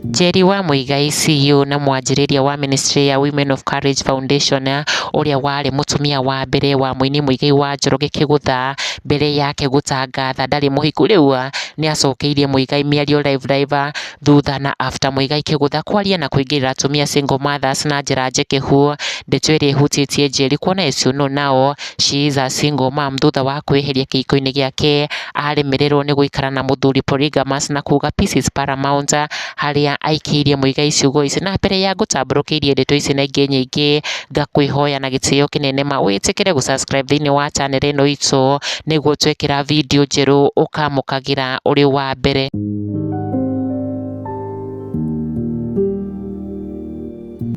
Njeri wa Muigai CEO na mwanjĩrĩria wa ministry ya Women of Courage Foundation ũrĩa warĩ mũtumia wa mbere wa mũini Muigai wa Njoroge Kĩgũtha mbere yake gũtangatha ndarĩ mũhiku rĩu nĩacokeirie Muigai mĩario live live thutha na after Muigai Kĩgũtha kwaria na kũingĩrĩra atumia single mothers na njĩra njĩkĩhu. Ndeto ĩrĩa ĩhutĩtie Njeri kuona Esũ no nao she is a single mom thutha wa kwĩheria kĩhiko-inĩ gĩake aremererwo nĩ gũikara na mũthuri polygamous na kuga peace is paramount harĩa aikĩirie Muigai ciugo ici. Na mbere ya ngũtambũrũkĩirie ndeto ici na ingĩ nyingĩ ngakwĩhoya na gĩtĩo kĩnene ma wĩtĩkĩre gũ subscribe thĩinĩ wa channel ĩno itũ nĩguo twekĩra video njerũ ũkamũkagĩra ũrĩ wa mbere.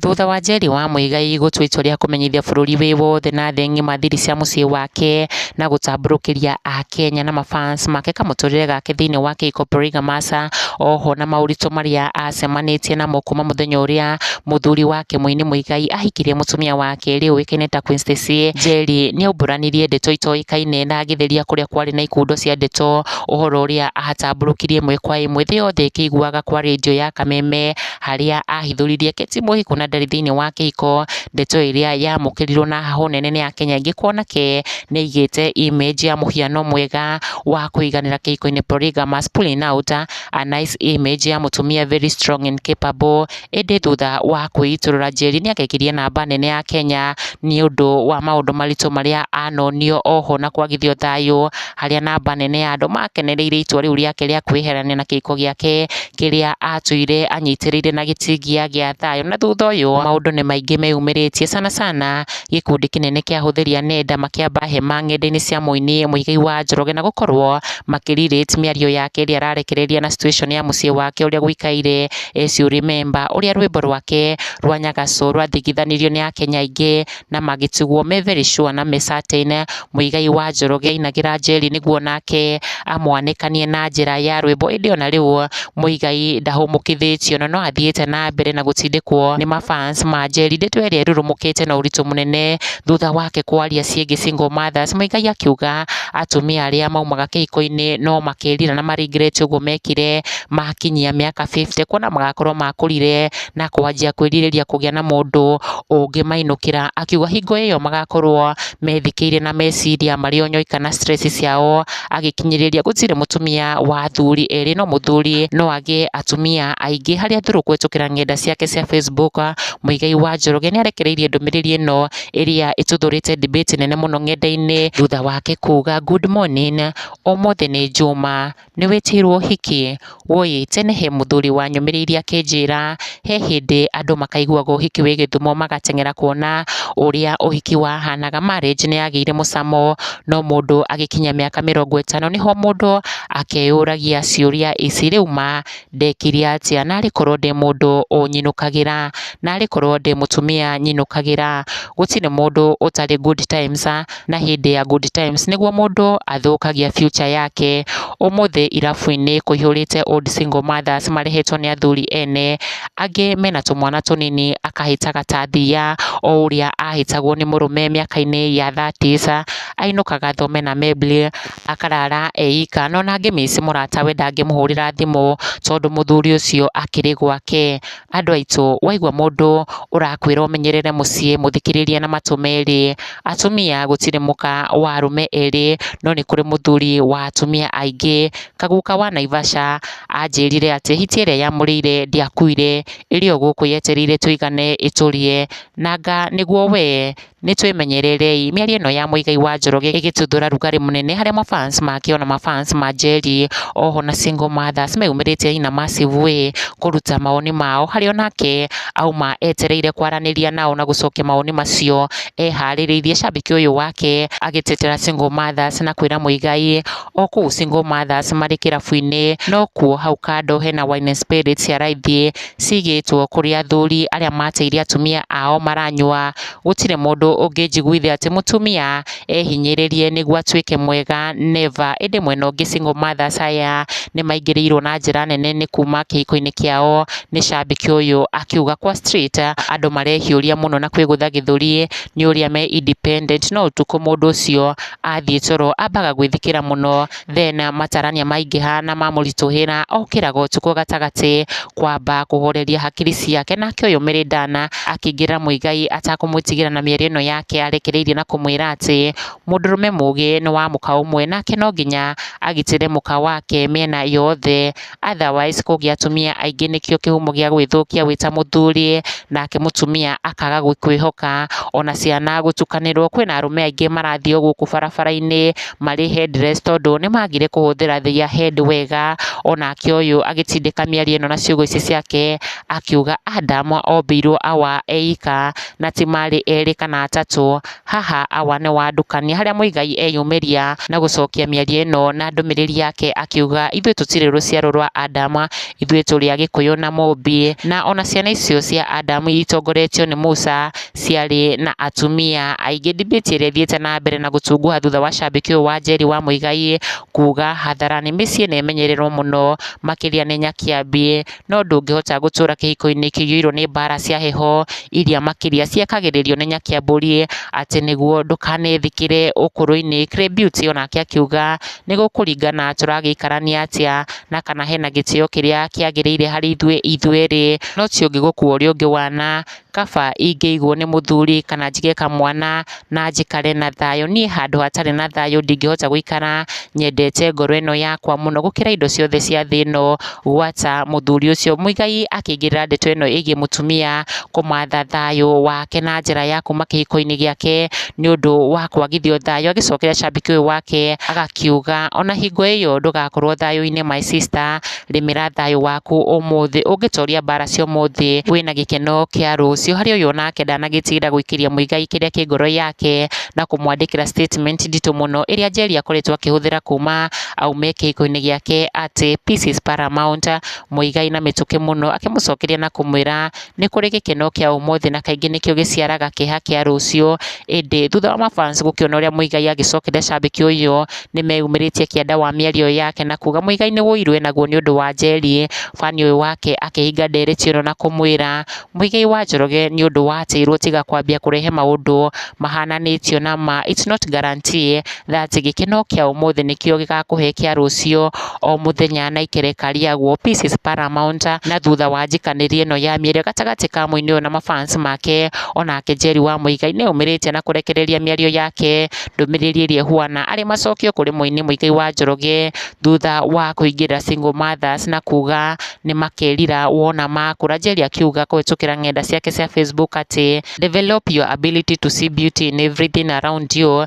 Thutha wa Njeri wa Muigai gũtua itua rĩa kũmenyithia bũrũri wĩ wothe na thĩ ng'ima thiri cia mũciĩ wake na gũtambũrũkĩria Akenya na mafans make kamũtũrĩre gake thĩinĩ wa Kĩhiko Polygamous, oho na maũritũ marĩa acemanĩtie namo kuma mũthenya ũrĩa mũthuri wake Mũini Muigai ahikirie mũtumia wa kerĩ ũĩkaine ta Queen Stacy, Njeri nĩaumbũranirie ndeto itoĩkaine na agĩtheria kũrĩa kwarĩ na ikundo cia ndeto. ũhoro ũrĩa ahatambũrũkirie ĩmwe kwa ĩmwe thĩ yothe ĩkĩiguaga kwa rĩndiũ ya kameme, harĩa ahithũririe Kate Mũhĩko na ndarĩ thĩinĩ wa kĩhiko, ndeto ĩrĩa yamũkĩrirwo na hahũ nene nĩ akenya aingĩ kuona ke nĩ aigĩte image ya mũhiano mwega wa kũiganĩra kĩhiko-inĩ, polygamous, pulling out, a nice image ya mũtumia very strong and capable. ĩndĩ thutha wa kwĩitũrũra njeri nĩ agekirie namba nene ya Kenya nĩ ũndũ wa maũndũ maritũ marĩa anonio oho na kwagithio thayũ, harĩa namba nene ya andũ makenereire itua rĩu rĩake rĩa kwĩyeherania na kĩhiko gĩake kĩrĩa atũire anyitĩrĩire na gĩtingia gĩa thayũ. Na thutha ũyũ maũndũ nĩ maingĩ meyumĩrĩtie sana sana gĩkundi kĩnene kĩa ahũthĩri a nenda makĩamba hema nenda-inĩ cia mũini Mũigai wa Njoroge na gũkorwo makĩ relate mĩario yake ĩrĩa ararekereria na situation ya mũciĩ wake ũrĩa gũikaire. Eci ũ rememba ũrĩa rwĩmbo rwake rwa Nyagaco rwathikithanirio nĩ akenya aingĩ na magĩtugwo me very sure na me certain Muigai wa Njoroge ainagĩra Njeri nĩguo nake amwanĩkanie na njĩra ya rwĩmbo ĩndĩ ona rĩu Muigai ndahũmũkithĩtio na no athiĩte na mbere na gũtindĩkwo nĩ ma fans ma Njeri. Ndeto ĩrĩa ĩrurumũkĩte na ũritũ mũnene thutha wake kwaria ciĩgiĩ single mothers Muigai akiuga atumia arĩa maumaga kĩhiko-inĩ no makerira na ma regret ũguo mekire. makinyia mĩaka fifty, kuona magakorwo makũrire na kwanjia kwĩrirĩria kũgĩa na mũndũ ũngĩmainũkĩra. Akiuga hingo ĩyo magakorwo methikĩire na meciria marĩ o nyoika na stress ciao, agĩkinyĩrĩria gũtirĩ mũtumia wa athuri erĩ, no mũthuri no agĩe atumia aingĩ. Harĩ athuri kũhĩtũkĩra ng'enda ciake cia Facebook, Muigai wa Njoroge nĩ arekereirie ndũmĩrĩri ĩno ĩrĩa ĩtuthũrĩte debate nene mũno ng'enda-inĩ, thutha wake kuuga, Good morning, ũmũthĩ nĩ njuma, Nĩ wĩtĩirwo ũhiki? Wũi, tene he mũthuri wanyũmĩrĩirie akĩnjĩra, he hĩndĩ andũ makaiguaga ũhiki wĩ Gĩthumo magateng'era kuona ũrĩa ũhiki wahanaga. Marriage nĩ yagĩire mũcamo, no mũndũ agĩkinyia mĩaka mĩrongo ĩtano nĩho mũndũ akeyũragia ciũria ici, rĩu ma, Ndekire atĩa narĩ korwo ndĩ mũndũ ũnyinũkagĩra, narĩ korwo ndĩ mũtumia nyinũkagĩra, gũtirĩ mũndũ ũtarĩ good times, na hĩndĩ ya good times nĩguo mũndũ athũkagia future yake, ũmũthĩ irabu-inĩ kũihũrĩte old single mothers marehetwo nĩ athuri ene, angĩ mena tũmwana tũnini akahĩtaga ta thiia, o ũrĩa ahĩtagwo nĩ mũrũme mĩaka-inĩ ya thirties, ainũkaga thome na mebli, akarara eika, no ona angĩmiss mũrata we ndangĩmũhũrĩra thimũ, tondũ mũthuri ũcio akĩrĩ gwake. Andũ aitũ, waigua mũndũ ũrakwĩra ũmenyerere mũciĩ, mũthikĩrĩrie na matũ merĩ. Atumia gũtirĩ mũka wa arũme erĩ, no nĩ kũrĩ mũthuri wa atumia aingĩ. Kaguka wa Naivasha anjĩrire atĩ hiti ĩrĩa yamũrĩire ndĩakuire, ĩrĩ o gũkũ yetereire tũigane ĩtũrĩe, na anga nĩguo wee? Nĩtwĩmenyererei, mĩario ĩno ya Muigai wa Njoroge ĩgĩtuthũra rugarĩ mũnene harĩa ma fans make ona ma fans ma Njeri oho na single mothers meyumĩrĩtie nyina Massive Way kũruta mawoni mao harĩa onake auma etereire kwaranĩria nao na gũcokia mawoni macio eharĩrĩirie. Shabiki ũyũ wake agĩtetera single mothers na kwĩra Muigai o kũu single mothers marĩ kĩrabu-inĩ nokuo hau kando hena wine and spirits ya raithi cigĩtwo kũrĩ athuri arĩa mateire atumia ao maranyua, gũtirĩ mũndũ ũngĩnjiguithia atĩ mũtumia ehinyĩrĩrie nĩguo atuĩke mwega never. Ĩndĩ mwena ũngĩ single mothers aya nĩ maingĩrĩirwo na njĩra nene nĩ kuma kĩhiko-inĩ kĩao nĩ cambĩki ũyũ akiuga kwa street andũ marehiũria mũno na kwĩgũtha gĩthũri nĩ ũrĩa me independent no ũtukũ mũndũ ũcio athiĩ toro ambaga gwĩthikĩra mũno then matarania maingĩha na mamũritũhĩra, okĩraga ũtukũ gatagatĩ kwamba kũhoreria hakiri ciake, nake ũyũ Mary Dan akĩingĩrĩra Muigai atakũmwĩtigĩra na mĩario ĩno yake arekereirie na kũmwĩra atĩ, mũndũrũme mũgĩ nĩ wa mũka ũmwe, nake no nginya agitĩre mũka wake mĩena yothe. otherwise kũngĩa atumia aingĩ nĩkĩo kĩhumo gĩa gwĩthũkia wĩ ta mũthuri, nake mũtumia akaga gũkwĩhoka, ona ciana gũtukanĩrwo, kwĩna arũme aingĩ marathiĩ o gũkũ barabara-inĩ marĩ headless tondũ nĩ magire kũhũthĩra their head wega, onake ũyũ agĩtindĩka mĩario ĩno na ciugo ici ciake, akiuga Adamu ombĩirwo awa eika, na ti marĩ erĩ kana atatũ. Haha Awa nĩ wandũkania harĩa Muigai eyumĩria na gũcokia mĩario ĩno na ndũmĩrĩri yake akiuga ithuĩ tũtirĩ rũciaro rwa Adam, ithuĩ tũrĩ a Gĩkũyũ na Mũmbi. Na ona ciana icio cia Adam iria itongoretio nĩ Musa ciarĩ na atumia aingĩ. Debate ĩrĩa ĩthiĩte na mbere na gũtunguha thutha wa shabiki ũyũ wa Njeri wa Muigai kuuga hadharani mĩciĩ nĩ ĩmenyererwo mũno makĩria nĩ Nyakĩambi. no ndũngĩhota gũtũra kĩhiko-inĩ kĩiyũirwo nĩ mbara cia heho, iria makĩria ciekagĩrĩrio nĩ Nyakĩambũri, atĩ nĩguo ndũkanethikĩre ũkũrũ-inĩ. Clay Beauty o nake akiuga, nĩ gũkũringana tũragĩikarania atĩa, na kana hena gĩtĩo kĩrĩa kĩagĩrĩire harĩ ithuĩ ithuerĩ, no ti ũngĩ gũkua ũrĩa ũngĩ wana, kaba ingĩigwo nĩ mũthuri kana njige kamwana na njikare na thayũ. Niĩ handũ hatarĩ na thayũ ndingĩhota gũikara nyendete ngoro ĩno yakwa mũno gũkĩra indo ciothe cia thĩ ĩno gwata mũthuri ũcio. Muigai akĩingĩrĩra ndeto ĩno ĩgiĩ mũtumia kũmatha thayũ wake na njĩra ya kuma kĩhiko-inĩ gĩake nĩ ũndũ wa kwagithio thayũ. Agĩcokera shabiki ũyũ wake agakiuga ona hingo ĩyo ndũgakorwo thayũ-inĩ my sister Rĩmĩra thayũ waku ũmũthĩ, ũngĩtoria mbara cia ũmũthĩ, wĩna gĩkeno kĩa rũciũ. Harĩ ũyũ onake ndanagĩtigĩra gũikĩria mũigai kĩrĩa kĩ ngoro yake, na kũmwandĩkĩra statement nditũ mũno ĩrĩa Njeri akoretwo akĩhũthĩra kuuma aume kĩhiko-inĩ gĩake atĩ, Peace is paramount. Mũigai na mĩtũkĩ mũno akĩmũcokeria na kũmwĩra, Nĩ kũrĩ gĩkeno kĩa ũmũthĩ na kaingĩ nĩkĩo gĩciaraga kĩeha kĩa rũciũ. Ĩndĩ thutha wa mabans gũkĩona ũrĩa Muigai agĩcokeria cambĩki ũyũ, nĩ meyumĩrĩtie kĩanda wa mĩario ĩyo yake na kuga Muigai nĩ ũiru enaguo nĩ ũndũ wa Njeri. Fan ũyũ wake akĩhinga ndereti ĩno na kũmwĩra, Muigai wa Njoroge nĩ ũndũ watĩirwo tiga kwambia kũrehe maũndũ mahananĩtio na ma, it's not guarantee thaa atĩ gĩkeno kĩa ũmũthĩ nĩkĩo gĩgakũhe kĩa rũciũ o mũthenya na ikereka rĩaguo peace is paramount na thutha wa njikanĩrie ĩno ya mĩario gatagatĩ ka mũini ũyũ na ma fans make onake Njeri wa Muigai nĩ aumĩrĩtie na kũrekereria mĩario yake ndũmĩrĩri ĩrĩa ĩhuana arĩ macokio kũrĩ mũini Muigai wa Njoroge thutha wa kũingĩrĩra single mothers na kuga nĩ makerira wona makũra. Njeri akiuga kũhĩtũkĩra ng'enda ciake cia Facebook atĩ develop your ability to see beauty in everything around you